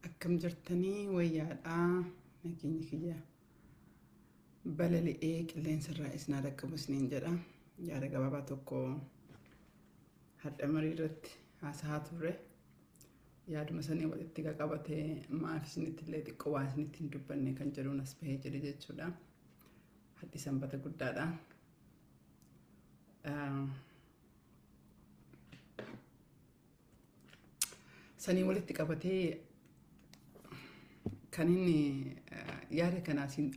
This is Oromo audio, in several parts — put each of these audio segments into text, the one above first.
akkam jirtanii wayyaadhaa nageenya kiyyaa balali'ee qilleensa irraa isin haa dhaqqabu isiniin jedha. Yaada gabaabaa tokko hadha marii irratti haasahaa turre. Yaaduma sanii walitti qaqabatee maaf isinitti illee xiqqoo waan isinitti hin dubbanne kan jedhuun as bahee jedhe jechuudha. Hadhi sanbata guddaadha. Ah, sanii walitti qabatee kan inni eh, yaada kanaa siin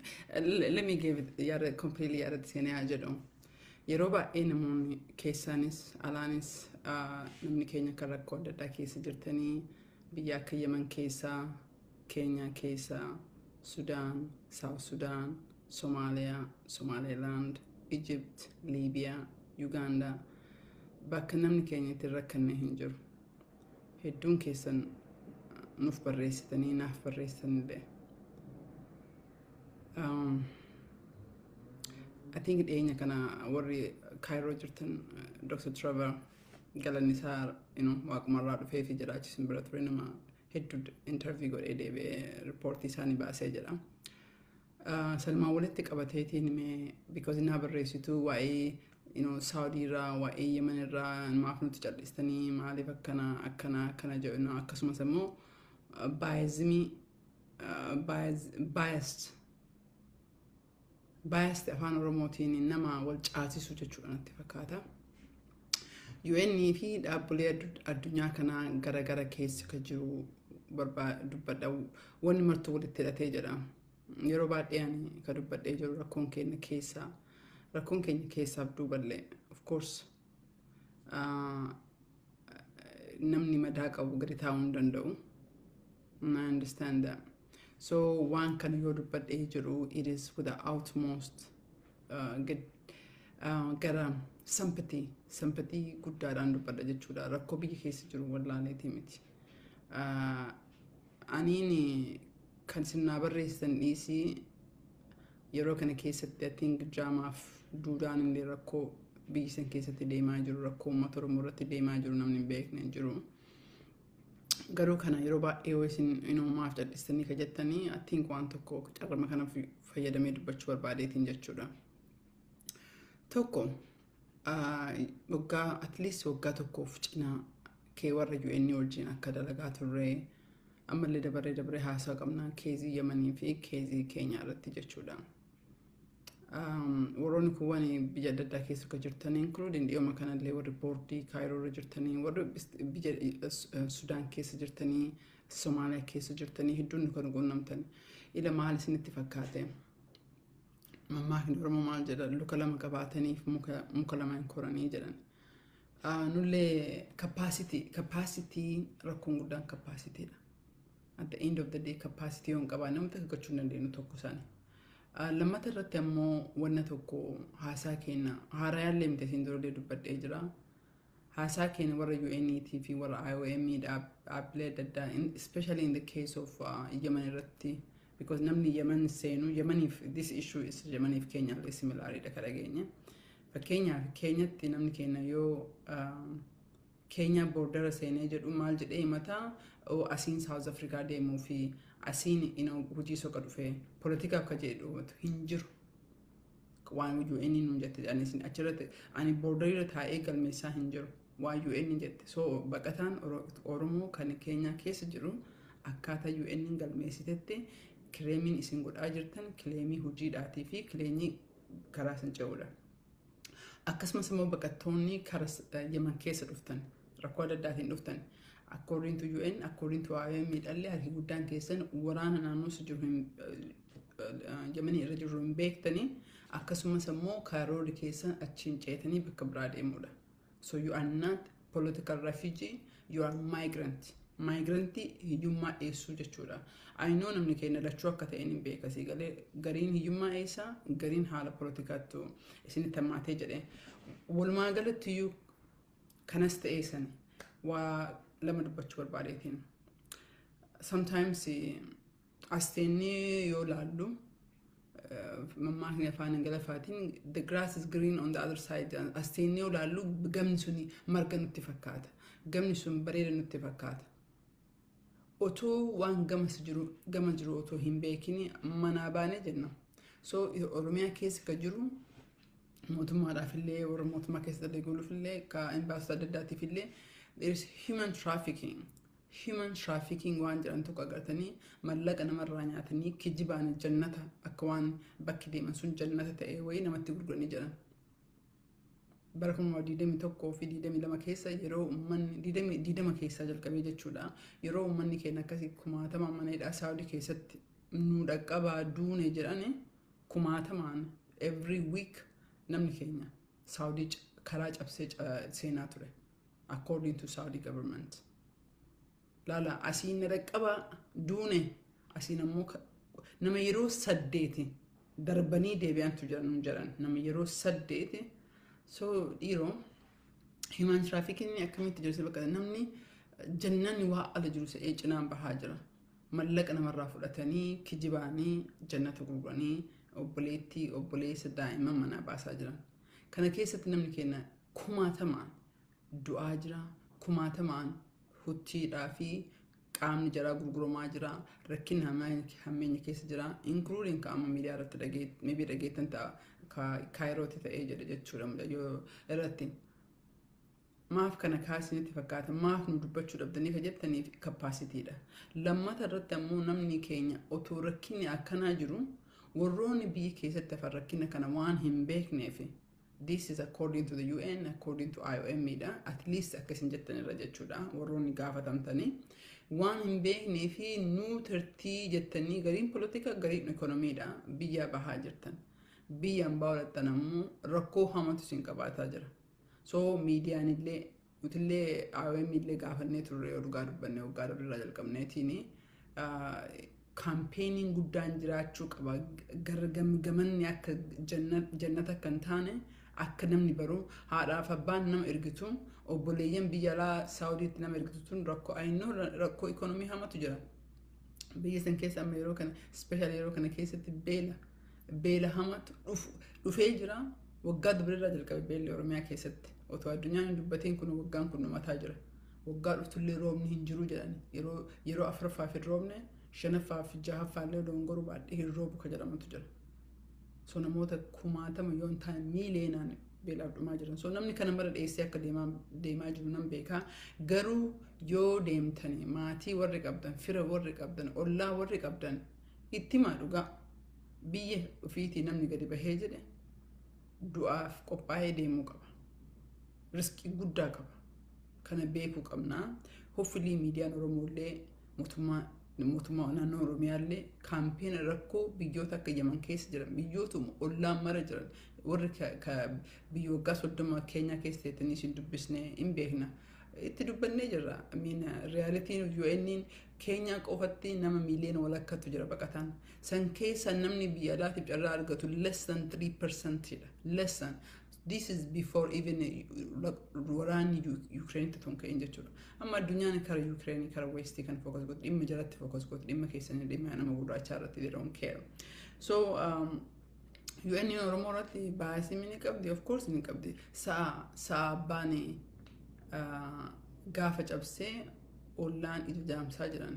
let me give it yaada completely yaada itti seenee haa jedhu yeroo baay'ee namoonni keessaanis alaanis ah, namni keenya kan rakkoo adda addaa keessa jirtanii biyya akka yeman keessaa Keenyaa keessa, Sudaan, South Sudan, Somalia, Somaliland, Egypt, Libya, Uganda bakka namni keenya itti hin rakkanne hin jiru. Hedduun keessan nuuf barreessitanii naaf barreessitanillee. Um, I think dhiyeenya kana warri Kaayiroo jirtan Dr. Trevor galanni isaa you know, waaqumarraa dhufee fi jiraachisin bira ture nama hedduu intervii godhee deebi'ee riippoortii isaanii baasee jedha. Salmaan walitti qabateetiin mee because naa barreessitu waa'ee Saawudii irraa waa'ee Yemen irraa maaf nuti cal'istanii maaliif akkana akkana akkana jedhu akkasumas immoo baayizimii baayist biased afaan oromootiin nama wal caasisu jechuudha natti fakkaata. UN fi dhaabbilee addu- addunyaa kanaa gara gara keessa kan jiru barbaa- dubbadha wanni martuu walitti hidhatee jedha. Yeroo baay'ee ani kan dubbadhee jiru rakkoon keenya keessaa rakkoon keenya keessaaf duuballee of course ah, namni madaa qabu gadi taa'uu hin danda'u. I understand that. So waan kana yoo dubbadhee jedhu it is with the utmost uh, gad, uh, gara sympathy sympathy guddaadhaan dubbadha jechuudha rakkoo biyya keessa jiru wallaaleetii miti. Uh, aniin kan sinnaa barreessitan dhiisii yeroo kana keessatti I think jaamaaf duudaan illee rakkoo biyya san keessatti deemaa jiru rakkoo uummata Oromoo irratti deemaa jiru namni hin beekne hin jiru. Garuu kana yeroo baay'ee yoo isin inuu maaf cadhistanii ka jettanii attiin waan tokko carrama kana fayyadamee dubbachuu barbaadeetiin jechuudha. Tokko waggaa atleast waggaa tokkoof cinaa kee warra UN wajjin akka dalagaa turre ammallee dabaree dabaree haasaa qabnaan keezii Yamanii fi keezii Keenyaa irratti jechuudha. warroonni kuwwan biyya adda addaa keessa akka jirtan inkluudiin dhiyooma kanallee warri boordii kaayiroo irra jirtanii warri biyya sudaan keessa jirtanii somaaliyaa keessa jirtanii hedduun kan quunnamtan ila maal isinitti fakkaate mammaakni oromoo maal jedha luka lama qabaataniif muka lama hin koranii jedhan nullee kappaasitii rakkoon guddaan kappaasitiidha at the end of the day capacity yoon qabaa nama takka gochuu hin dandeenyu tokko isaani. Ah, Lammata irratti ammoo wanna tokko haasaa keenya haarayaallee miti asiin durallee dubbadhee jira. Haasaa keenya warra UNT fi warra IOM dhaab- dhaabbilee adda addaa in- especially in the case of ah, Yemen irratti because namni Yemen seenu Yemeniif this issue is Yemeniif Keenyaallee similaariidha kan dhageenye. Fakkeenyaaf Keenyatti namni keenya yoo ah, Keenyaa boordara seenee jedhu maal jedhee himata oo asiin South Africa deemuu fi asiin ino hojii soqa dhufe politikaaf ka jedhe dhoomatu hin jiru. Waan UN nuun jette jedhanii isin achirratti ani boordarirra taa'ee galmeessaa hin jiru. Waan UN jette so baqataan Oromoo kan keenyaa keessa jiru akkaataa UN galmeessitetti kireemiin isin godhaa jirtan kileemii hojiidhaatii fi kileenii karaa isin ce'uudha. Akkasumas immoo baqattoonni kara Yemen keessa dhuftan rakkoo adda addaatiin dhuftan according to UN according to IOM miidhallee harki guddaan keessan waraana naannoo si jiru hin Yemen irra jiru hin beektanii akkasumas immoo kaaroorri keessan achiin ceetanii bakka biraa deemuudha. So you are not political refugee, you are migrant. Migrantii hiyyummaa dheessuu jechuudha. Ayinoo namni keenya lachuu akka ta'een hin beeka sii galee gariin hiyyummaa eessaa gariin haala poolitikaattu isinitti hammaatee jedhe. Walumaa galatti iyyuu kanas ta'ee sani waa lama dubbachuu barbaadeetiin. Sometimes Asteenni yoo laallu mammaakni afaan Ingiliffaatiin the grass is green on the other side asteenni yoo laallu gamni sun marga nutti fakkaata. Gamni sun bareeda nutti fakkaata. Otoo waan gamas jiru gama jiru otoo hin beekin manaa baane jenna. So Oromiyaa keessa ka jiru mootummaadhaaf illee warra mootummaa keessa dalaguuf illee ka imbaasota adda addaatiif illee there is human trafficking. human trafficking waan jedhan tokko agartanii mallaqa namarraa nyaatanii kijibaan jannata akka waan bakki deeman sun jannata ta'e wayii namatti gurguranii jedhan. Bara 2021 fi 22 keessa yeroo uummanni 20 keessaa jalqabee jechuudha yeroo uummanni keenya akkasii kumaatama mana hidhaa saawudii keessatti nu dhaqqabaa duune jedhan kumaatamaan every week namni keenya saawudii karaa cabsee seenaa ture. according to Saudi government. Laala asiin na dhaqqabaa duune asiin ammoo ka- nama yeroo saddeeti darbanii deebi'antu jiran nu jedhan nama yeroo saddeeti so dhiiroo himaan tiraafikinni akkamitti jirti bakka namni jannanni waa ala jiru se'ee cinaan bahaa jira mallaqa namarraa fudhatanii kijibaanii jannata gurguranii obboleettii obboleessa daa'imman manaa baasaa jiran kana keessatti namni keenya kumaatamaan du'aa jira kumaatamaan huttiidhaa fi qaamni jaraa gurguramaa jira rakkin hammeenya keessa jira inkluudin ka amma miidiyaa irratti dhageetti dhageettan ta'a ka kaayirooti ta'ee jedhe jechuudha mucayyoo irratti maaf kana kaasinitti fakkaata maaf nu dubbachuu dhabdanii ka jettaniif kappaasitiidha lammata irratti ammoo namni keenya otoo rakkinni akkanaa jiru warroonni biyya keessatti hafan rakkina kana waan hin beekneefi This is according to the UN, according to IOM dha. At least akka isin jettan irra jechuudha. Warroonni gaafatamtanii waan hin beeknee fi nuu tirtii jettanii gariin polotika gariin ekonomiidha. Biyyaa bahaa jirtan. Biyya ambaa olattan ammoo rakkoo hamatu isin qabaataa jira. So miidiyaan illee Nutillee IOM illee gaafannee turre yoo dhugaa dubbanne waggaa dabre irraa jalqabneetiin kaampeenii guddaan jiraachuu qaba gara gamgamanni akka jannata akka hin taane akka namni baru haadhaaf abbaan nama ergitu obboleeyyan biyya alaa saawudiitti nama ergitu tun rakkoo ayinoo rakkoo ikoonomii hamatu jira biyya san keessa amma yeroo kana ispeeshaal yeroo kana keessatti beela Beela hamaatu dhufee jira. Waggaa dubrirraa jalqabe beelli Oromiyaa keessatti. Otoo addunyaan hin dubbatiin kun waggaan kun dhumataa jira. Waggaa dhufullee roobni hin jiru jedhan. Yeroo afuraffaaf hin roobne shanaffaaf jahaffaallee doongoruu baadhee hin roobu ka jedhamutu jira. So namoota kumaatama yoo hin taane miiliyoonaan beelaaf dhumaa jiran. So namni kana mara dheessee akka deemaa jiru nan beekaa. Garuu yoo deemtanii maatii warri qabdan, fira warri qabdan, ollaa warri qabdan Itti himaa dhugaa. Biyya ofiitii namni gadi bahee jedhe du'aaf qophaa'ee deemuu qaba. Risqii guddaa qaba. Kana beekuu qabna. Hoffilii miidiyaan Oromoollee mootummaa mootummaa naannoo Oromiyaallee kaampeena rakkoo biyyoota akka Yaman keessa jiran biyyootuma ollaan mara jiran warri ka- ka- biyya waggaa soddoma keenyaa keessa teettanii isin dubbisnee hin beekna. Itti dubbannee jirra. Miina riyaalitiin UN'n Keenyaa qofatti nama miiliyoona walakkatu jira baqataan. San keessa namni biyya alaatiif carraa argatu less than 3% dha. Less than. This is before even waraanni Yukireenitti tun ka'een jechuudha. Amma addunyaan kara Yukireenii kara Weestii kan fookas godhu dhimma jalatti fookas godhu dhimma keessanii dhimma nama gurraachaa irratti they don't care. So um, UN Oromoo irratti baay'isii ni qabdi of course ni qabdi. Sa'a sa'a baanee gaafa cabsee ollaan ija jaamsaa jiran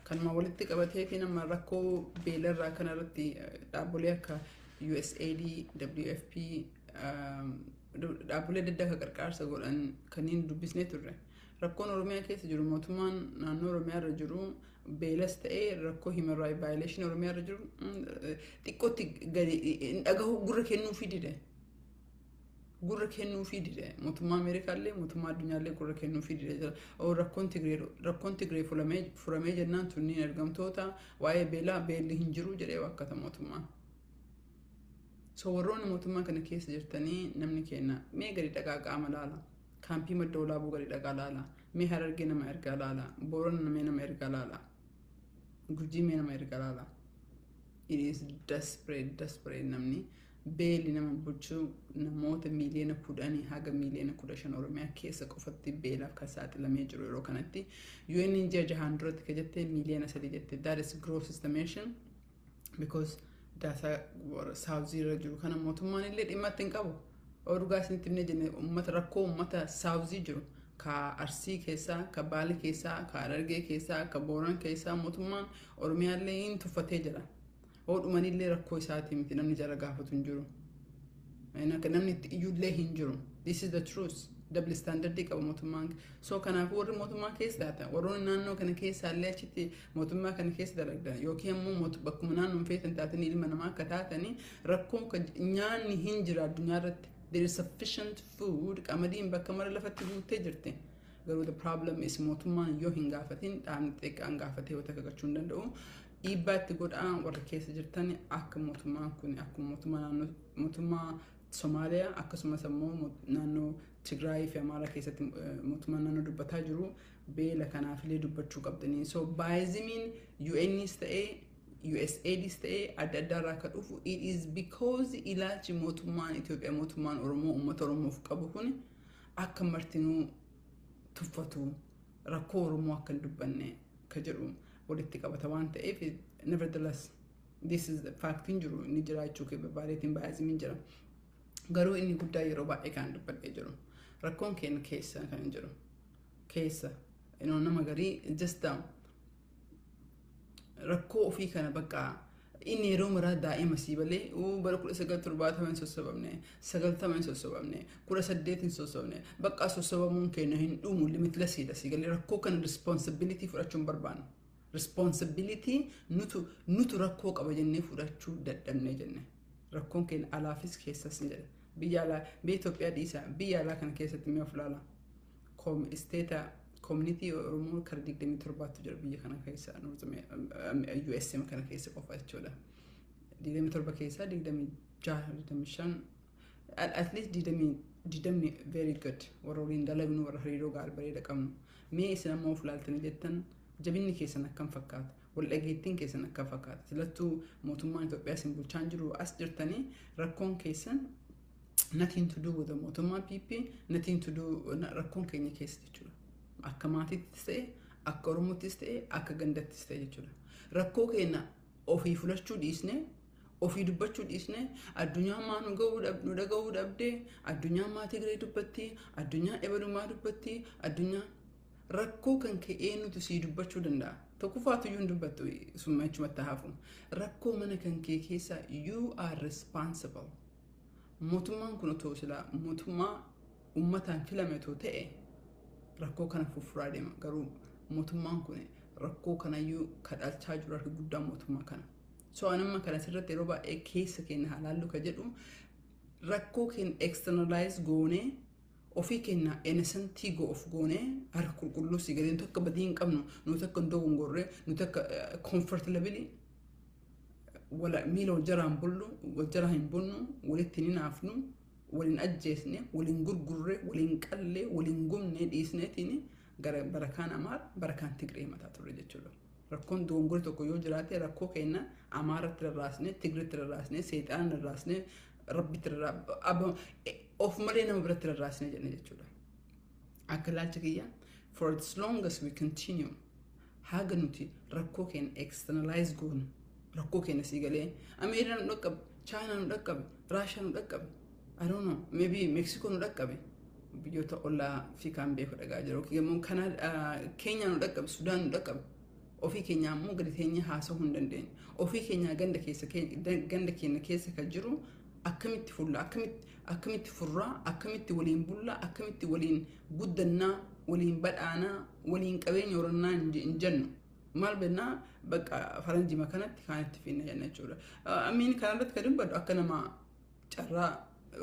kanuma walitti qabatee fi nama rakkoo beelarraa kanarratti dhaabbilee akka USAID, WFP dhaabbilee adda addaa akka qarqaarsa godhan kanneen dubbisnee turre. Rakkoon Oromiyaa keessa jiru mootummaan naannoo Oromiyaa irra jiru beelas ta'ee rakkoo human rights violation Oromiyaa irra jiru xiqqootti gadi hin dhagahu gurra kennuu fi dide. gurra kennuufii dide mootummaa Ameerikaallee mootummaa addunyaallee gurra kennuufii dide jira. Oo, Rakkoon Tigree rakkoon Tigree fulamee furamee jennaan tunniin ergamtoota waa'ee beelaa beelli hin jiru jedhee waakkata mootummaan. So warroonni mootummaa kana keessa jirtanii namni keenya mee gadi dhaqaa qaama laala. Kaampii madda olaabuu gadi dhaqaa laala. Mee harargee nama ergaa laala. Boorana mee nama ergaa laala. Gurjii mee nama ergaa laala. It is desperate, desperate namni. Beeli nama buchuu namoota miiliyoona 10 haga miiliyoona 15 Oromiyaa keessa qofatti beelaaf kan saaxilamee jiru yeroo kanatti UN'n ji'a jahaan duratti ka jette miiliyoona 3 jette that is gross estimation because daataa warra saawuzii irra jiru kana mootummaan illee dhimma itti hin qabu odugaa isinitti himnee jenne uummata rakkoo uummata saawuzii jiru ka arsii keessaa ka baale keessaa ka harargee keessaa ka booran keessaa mootummaan Oromiyaa illee hin tuffatee jira. Hoo dhumanillee rakkoo isaati miti namni jara gaafatu hin jiru. Akka namni itti iyyullee hin jiru. This is the truth. Double standard qaba mootummaan. So kanaaf warri mootummaa keessa taatan warroonni naannoo kana keessa illee achitti mootummaa kana keessa dalagdan yookiin immoo mootu- bakkuma naannoon feetan taatan ilma namaa akka taatanii rakkoon kan nyaanni hin jira addunyaa irratti. There is sufficient food qamadiin bakka mara lafatti guuttee jirti. Garuu the problem is mootummaan yoo hin gaafatin dhaabni xiqqaan gaafatee yoo takka gachuu hin danda'u. dhiibbaa itti godhaa warri keessa jirtan akka mootummaan kun akkuma mootummaa naannoo mootummaa Somaaliyaa akkasumas ammoo mo- naannoo Tigraayii fi Amaaraa keessatti eh, mootummaan naannoo dubbataa jiru beela kanaafillee dubbachuu qabdanii. So baayizimiin UNs ta'ee USAIDs ta'ee adda addaa irraa akka dhufu it is because ilaalchi mootummaan Itoophiyaa mootummaan Oromoo uummata Oromoof qabu kun akka martinuu tuffatu rakkoo Oromoo akka hin dubbanne ka jedhu walitti qabata waan ta'eef nevertheless this is the faaktiin jiru inni jiraachuu kee barbaadeetiin baay'isimiin jira garuu inni guddaa yeroo baay'ee kan dubbadhee jiru rakkoon keenya keessa kan jiru keessa you know, nama garii just um, rakkoo ofii kana bakka Inni yeroo maraa daa'ima sii balee uu bara kudha sagal torbaatama hin sossobamne sagaltama hin sossobamne kudha saddeet hin sossobne bakka sossobamuun keenya hin dhumu limitlesiidha sii galee rakkoo kana responsibility fudhachuu hin barbaannu. Responsibility nutu nutu rakkoo qaba jennee fudhachuu dadhabne jenne rakkoon keenya alaafis keessas ni jedha biyya alaa biyya Itoophiyaa dhiisaa biyya alaa kana keessatti mi'a of ilaalaa. isteeta koominitii Oromoo kara 27tu jira biyya kana keessa USM kana keessa qofa jechuudha. 27 keessaa 26 at least 20 very good warra waliin dalagnu warra hariiroo gaarii bareeda qabnu mee isin amma of laaltanii jettan jabinni keessan akkam fakkaata wal dhageettiin keessan akkam fakkaata silattuu mootummaan Itoophiyaa isin bulchaan jiru as jirtanii rakkoon keessan nothing to do with the mootummaa PP nothing to do rakkoon keenya keessa jechuudha. Akka maatiittis ta'e akka Oromoottis ta'e akka gandattis ta'e jechuudha. Rakkoo keenya ofii fudhachuu dhiisnee ofii dubbachuu dhiisnee addunyaa maa nu ga'uu dhab- nu dhaga'uu dhabdee addunyaa maa Tigree dubbatti addunyaa ebalumaa dubbatti addunyaa rakkoo kan kee eenyutu sii dubbachuu danda'a. Tokkoffaatu iyyuu hin dubbattu summa jechumatti hafu. Rakkoo mana kan kee keessaa you are responsible. Mootummaan kun otoo silaa mootummaa ummataan filame otoo ta'e rakkoo kana fuffuraa deema. Garuu mootummaan kun rakkoo kanayyuu kadhalchaa jiru harki guddaan mootummaa kana. So anamma kana sirratti yeroo baay'ee keessa keenya haa laallu ka jedhu rakkoo keenya externalize goonee ofii keenya enesantii go of goonee harka qulqulluu si galee nuti akka badii hin qabnu nuti akka hin dogongorre nuti akka comfortably wala- miila wal jalaan bullu wal jala hin bunnu walitti hin hinaafnu waliin ajjeesne waliin gurgurre waliin qalle waliin gubne dhiisneetiin gara barakaan amaar barakaan tigree mataa turre jechuudha. Rakkoon dogongora tokko yoo jiraate rakkoo keenya amaaratti rarraasne tigritti rarraasne seexaana rarraasne rabbitti rarraasne of malee nama biratti rarraasne jenne jechuudha. Akka ilaalcha kiyya for as long as we continue Haga nuti rakkoo keenya externalize goonu rakkoo keenya sii galee Ameerikaa nu dhaqqabe, Chaayinaa nu dhaqqabe, Raashaa nu dhaqqabe, I don't know, maybe Meeksikoo nu dhaqqabe. Biyyoota ollaa fi kaan beeku dhagaa jiru. Yookiin immoo Kanaadaa, Keenyaa nu dhaqqabe, Sudaan nu dhaqqabe. Ofii keenyaa immoo gadi teenyee haasa'uu hin dandeenyu. Ofii keenyaa ganda keessa ganda keenya keessa kan jiru akkamitti fulla akkamitti akkamitti furraa akkamitti waliin bullaa akkamitti waliin guddannaa waliin badhaanaa waliin qabeenya horannaa hin je- hin jennu maal bennaa bakka faranjima kanatti kaan itti finna jenna jechuudha amiin kanarratti kan dubbadhu akka nama carraa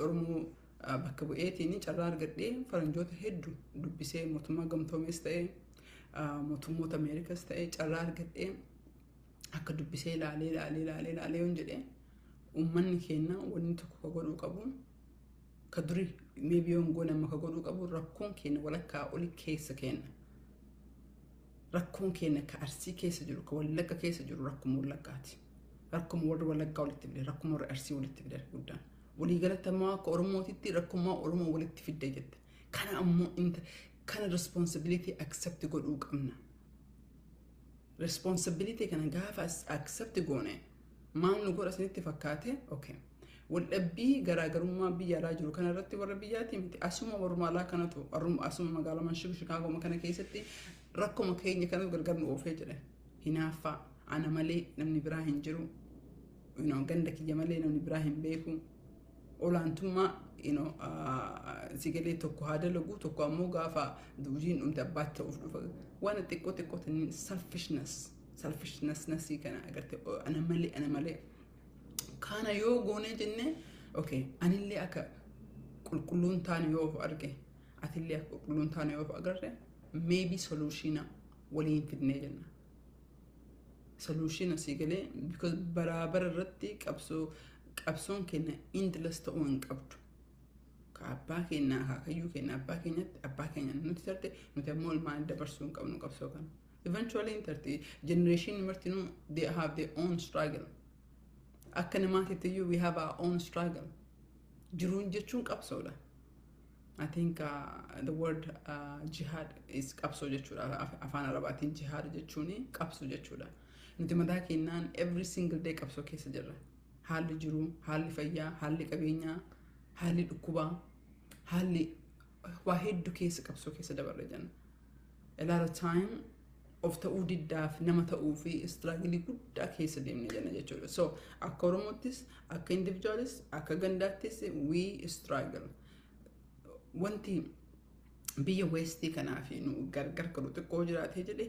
oromoo ah, bakka bu'eetiin carraa argadhee faranjoota hedduu dubbisee mootummaa gamtoomees ta'ee ah, mootummoota ameerikas ta'ee carraa argadhee akka dubbisee ilaalee ilaalee ilaalee ilaalee yoon jedhe uummanni keenya wanni tokko ka godhuu qabu ka duri meebi yoon goone amma ka godhuu qabu rakkoon keenya walakkaa oli keessa keenya rakkoon keenya ka arsii keessa jiru ka wallagga keessa jiru rakkuma wallaggaati rakkuma warri wallaggaa walitti fide rakkuma warri arsii walitti fide guddaan waliigalatti ammoo akka oromootitti rakkumaa oromoo walitti fidde jette kana ammoo inta kana responsibility accept godhuu qabna responsibility kana gaafa as- accept goone maal nu godha isinitti fakkaate okay waldhabbii garaagarummaa biyya alaa jiru kana irratti warra biyyaatii miti asuma warruma alaa kanatu warruma- asuma magaalaa manshib shikaagoma kana keessatti rakkuma keenya kanatu gargar nu oofee jedhe hinaaffaa ana malee namni biraa hin jiru you know, ganda kiyya malee namni biraa hin beeku olaantummaa you know, ah, si galee tokko haa dalagu tokko ammoo gaafa duujiin dhumte abbaatti ta'uuf dhufa waan xiqqoo xiqqoo tanniin selfishness selfishness nasii kana agarte oh, ana malee ana malee kana yoo goonee jenne okay anillee akka qulqulluun taane yoo of arge atillee akka qulqulluun taane yoo of agarre maybe solution waliin fidnee jenna solution asii galee because baraa bara irratti qabsoo qabsoon keenya endless ta'uu hin qabdu. Ka abbaa keenya akaakayyuu keenya abbaa keenyatti abbaa keenya nuti tarte nuti ammoo ilmaan dabarsuu hin qabnu qabsoo kana. Eventually hin tarti generation martinuu they have their own struggle. Akka namaatitti iyyuu we have our own struggle. Jiruun jechuun qabsoodha. I think uh, the word uh, jihad is qabsoo jechuudha. Af- Afaan Arabaatiin jihad jechuun qabsoo jechuudha. Nuti mataa keenyaan every single day qabsoo keessa jirra. Haalli jiruu, haalli fayyaa, haalli qabeenyaa, haalli dhukkubaa, haalli waa hedduu keessa qabsoo keessa dabarra jenna. A lot of time of ta'uu diddaaf nama ta'uu fi istiraagilii guddaa keessa deemne jenna jechuudha. So akka Oromoottis, akka individualis, akka gandaattis we struggle. wanti biyya westii kanaa fi nu gargar godhu xiqqoo jiraatee jedhe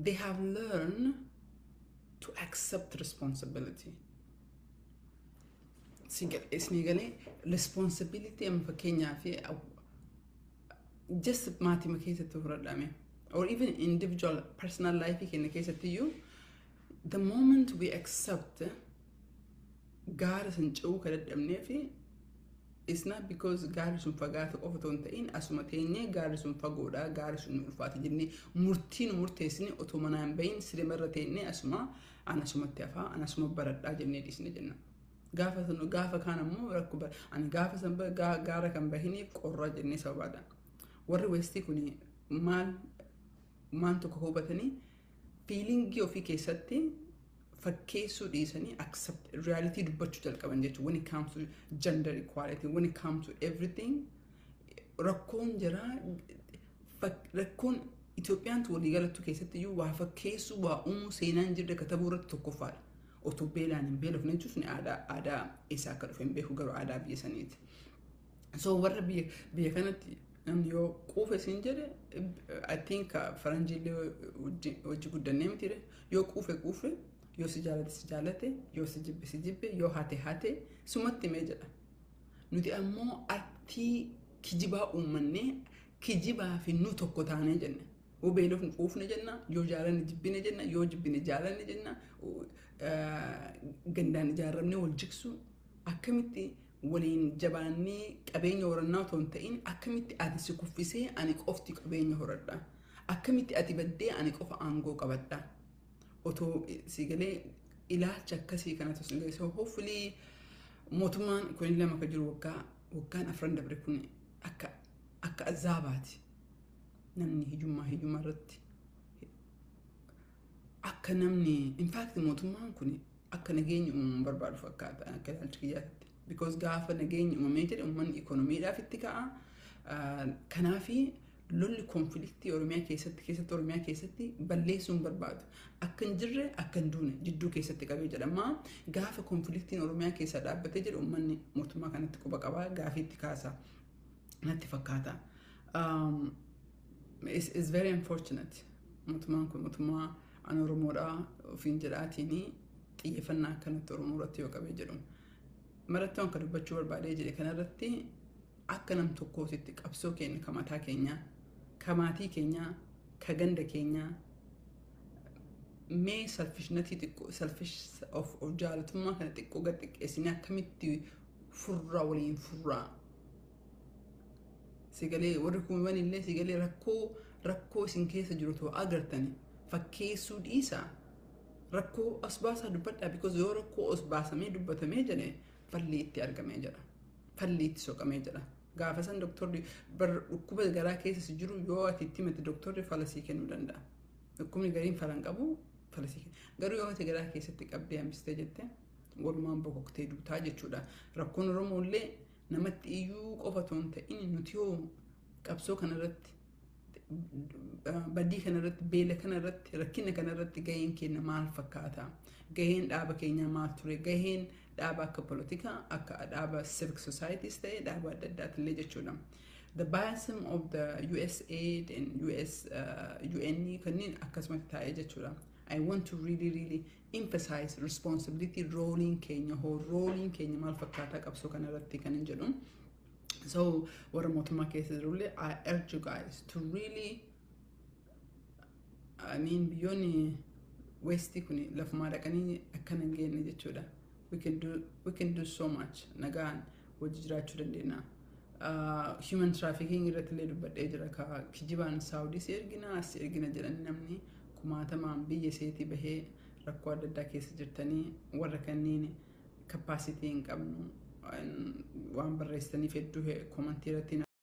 they have learned to accept responsibility. Isinii galee responsibility amma fakkeenyaa fi just maatima keessatti fudhadhame or even individual personal life keenya keessatti iyyuu the moment we accept gaara san ce'uu ka dadhabnee fi it's not because gaarri sun fagaata qofa otoo hin ta'in asuma teenyee gaarri sun fagoodha gaarri sun nu ulfaata jennee murtii nu murteessine otoo manaa hin bahin sirima irra teennee asuma an asumatti hafaa an asuma baradhaa jennee dhiisne jenna. Gaafa sun gaafa kaan ammoo rakkoo bara ani gaafa san ba- gaa- gaara kan bahiniif qorraa jennee sababaadha. Warri weestii kun maal waan tokko hubatanii fiilingii ofii keessatti fakkeessuu dhiisanii accept reality dubbachuu jalqaban jechuudha. When it comes to gender equality, when it comes to everything rakkoon jira fak- rakkoon Itoophiyaantu waliigalattu keessatti iyyuu waa fakkeessuu waa uumuu seenaan jirre katabuu irratti tokkoffaadha. Otoo beelaan hin beelofne jechuun sun aadaa aadaa eessaa akka dhufe hin beeku garuu aadaa biyya saniiti. So warra biyya biyya kanatti namni yoo quufe siin jedhe I think uh, faranjiillee wajji wajji guddannee miti yoo quufe quufe yoo si jaalate si jaalate yoo si jibbe si jibbe yoo hate hate sumatti mee jedha. Nuti ammoo artii kijibaa uummannee kijibaa fi nu tokko taanee jenna. Yoo beelofne quufne jenna, yoo jaalanne jibbine jenna, yoo jibbine jaalanne jenna, eh, gandaan ijaaramnee wal jiksuu akkamitti waliin jabaannee qabeenya horannaa otoo hin ta'in akkamitti ati si kuffisee ani qofti qabeenya horadha akkamitti ati baddee ani qofa aangoo qabadha otoo si galee ilaalcha akkasii kana otoo si galee so hopefully mootummaan kun lama akka jiru waggaa waggaan afran dabre kun akka akka azaabaati namni hiyyummaa hiyyummaa irratti akka namni in fact mootummaan kun akka nageenyi uumamu barbaadu fakkaata akka ilaalcha kiyyaatti. Because gaafa nageenyi uumamee jedhe uummanni ikoonomiidhaaf itti ka'a. Kanaafi lolli konfliktii Oromiyaa keessatti keessatti Oromiyaa keessatti balleessuun barbaadu. Akka hin jirre akka hin duune jidduu keessatti qabee jedhama. Gaafa konfliktiin Oromiyaa keessaa dhaabbatee jedhu uummanni mootummaa kanatti quba qabaa gaafiitti kaasa natti fakkaata. It's, it's very unfortunate. Mootummaan kun mootummaa an Oromoodha ofiin jedhaatiin xiyyeeffannaa akkanatti Oromoo irratti yoo qabee jedhu. Marattoon kan dubbachuu barbaadee jedhe kanarratti akka nam tokkootitti qabsoo keenya ka mataa keenyaa, ka maatii keenyaa, ka ganda keenyaa mee salfishnatii xiqqoo salfish of of jaalatummaa kana xiqqoo gad xiqqeessinee akkamitti furraa waliin furraa Sagalee warri kuuman illee sagalee rakkoo rakkoo isin keessa jiru too agartani fakkeessuu dhiisaa rakkoo as baasaa dubbadhaa because yoo rakkoo as baasamee dubbatamee jedhe falli itti argamee jedha falli itti soqamee jedha gaafa san doktorri bar dhukkuba garaa keessa si jiru yoo ati itti himate doktorri fala sii kennuu danda'a dhukkubni gariin fala hin qabu fala sii kenna garuu yoo ati garaa keessatti qabdee hambistee jette walumaan bokoktee duutaa jechuudha rakkoon oromoo illee Namatti iyyuu qofa otoo hin ta'in nuti hoo qabsoo kanarratti badii kanarratti beela kanarratti rakkina kanarratti gaheen keenya maal fakkaata gaheen dhaaba keenyaa maal ture gaheen dhaaba akka polotikaa akka dhaaba civic societies ta'e dhaaba adda addaatillee jechuudha. The biasm of the USAID and US uh, UN kanneen akkasumatti taa'ee jechuudha. I want to really really emphasize responsibility rooliin keenya hoo rooliin keenya maal fakkaataa qabsoo kana irratti kan hin jedhu so warra mootummaa keessa jirullee I urge you guys to really I mean biyyoonni westii kun lafumaa dhaqanii akkana hin geenye jechuudha we can do we can do so much nagaan wajji jiraachuu dandeenya Ah, human trafficking irratti illee dubbadhee jira ka kijibaan saawudii si ergina as si ergina jedhan namni kumaatamaan biyya seetii bahee rakkoo adda addaa keessa jirtanii warra kanneen capacity hin qabnu An- waan barreessitaniif hedduu komantii irratti